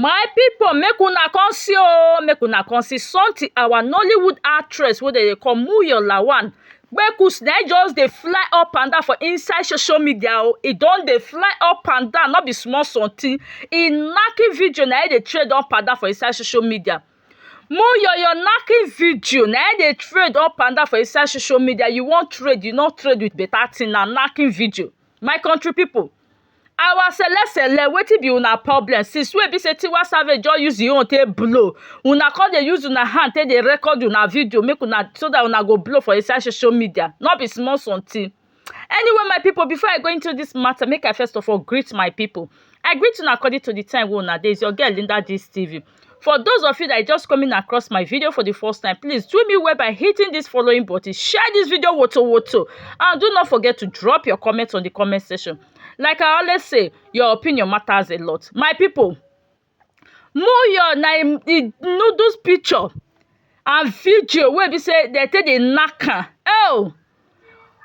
My people make una come see oh, make una come see something our Nollywood actress wey dem dey call Muyo Lawan Kpekus na im just dey fly up and down for inside social media oh, e don dey fly up and down no be small something, e knacking video na im dey trend up and down for inside social media. Muyo your knacking video na im dey trend up and down for inside social media, you wan trend you no trend with better thing na knacking video. My country people our sele sele wetin be una problem since wey be say tiwa savage just use him own take blow una come dey use una hand take dey record una video make una so that una go blow for inside social media no be small something anyway my people before i go into this matter make i first of all greet my people i greet una according to the time wey una dey is your girl linda gist tv For those of you that are just coming across my video for the first time, please do me well by hitting this following button. Share this video woto woto and do not forget to drop your comments on the comment section. Like I always say, your opinion matters a lot. My people, Muyo na im the noodles picture and video wey be say dem take dey knack am. Oh!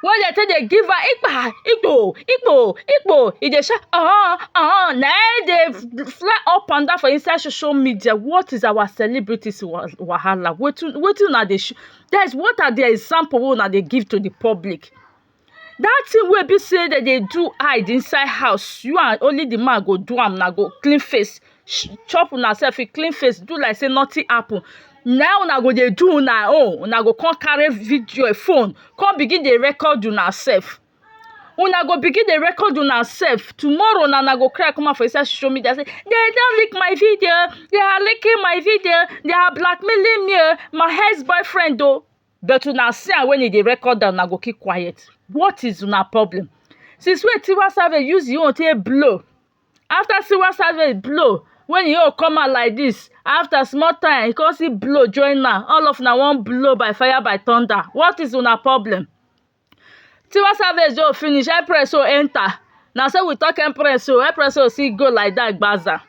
wey dey take dey give am ikpa ikpo ikpo ikpo e dey shout oon oon na im dey fly up and down for inside social media what is our celebrities wahala wetin wetin una dey show that is what are the example wey una dey give to the public that thing wey be sey dem dey do hide inside house you and only the man go do am una go clean face chop una self e clean face do like say nothing happen na how una go dey do una own una go come carry video phone come begin dey record una self una go begin dey record una self tomorrow na una go cry come out for inside social media say dem don leak my video they are leaking my video they are blackmailing me o my ex boyfriend o but una see am when e dey record am una go keep quiet what is una problem since wey Tiwa Savage use him own take blow after see one side wey e blow when e own come out like this after small time e come still blow join am all of una wan blow by fire by thunder what is una problem tiwa savage own finish empress own enter na so we talk empress own empress own still go like that gbaza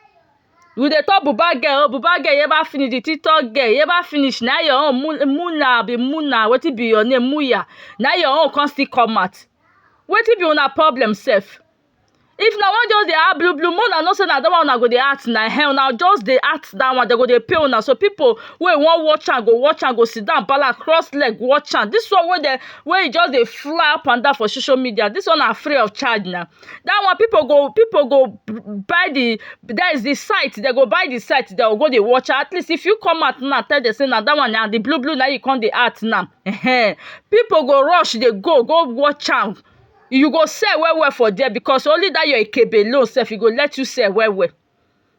we dey talk buba girl own buba girl ever finish the tiktok girl you ever finish na your own mu muna abi muna wetin be your name muya na your own come still come out wetin be una problem sef if una wan just dey act blue blue make una know say na that one una go dey act na ehen una just dey act that one dem go dey pay una so people wey wan watch am go watch am go sit down balance cross leg watch am this one wey dem wey e just dey fly up and down for social media this one na free of charge na that one people go people go buy the there is the site dem go buy the site dem go go dey watch am at least if you come out now tell dem say na that one na the blue blue na you come dey act now ehen people go rush dey go go watch am you go sell well well for there because only that your ikebe alone sef e go let you sell well well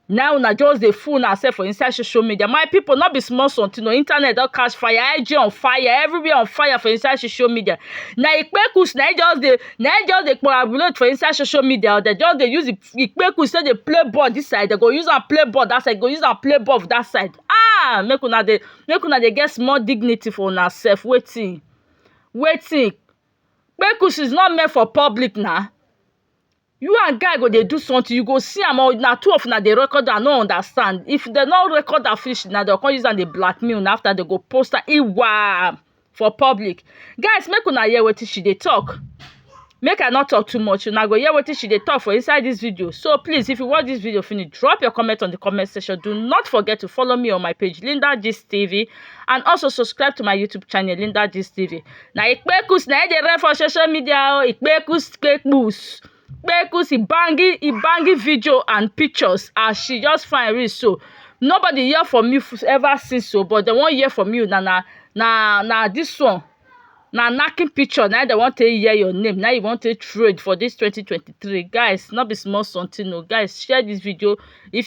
now una just dey fool una sef for inside social media my people no be small something o internet don catch fire IG on fire everywhere on fire for inside social media na ikpekus na e just dey na e just dey coagulate for inside social media or dem just dey use ikpekus take dey play ball this side dem go use am play ball that side go use am play ball that side ah make una dey make una dey get small dignity for una sef wetin wetin kpekus is not meant for public na you and guy go dey do something you go see am or na two of una dey record am i no understand if dem no record am finish na dem go come use am dey blackmail una after dem go post am iwaa for public guys make una hear wetin she dey talk make i no talk too much una go hear wetin she dey talk for inside this video so please if you watch this video finish drop your comment on the comment section do not forget to follow me on my page linda gist tv and also subscribe to my youtube channel linda gist tv na ikpekus na e dey run for social media o ikpekus kpekus kpekus e bangi e bangi video and pictures as she just fine reach so nobody hear from you ever since o but dem wan hear from you na na na na this one na knacking picture na dem wan take hear your name na you wan take trade for this 2023 guys no be small something o guys share this video if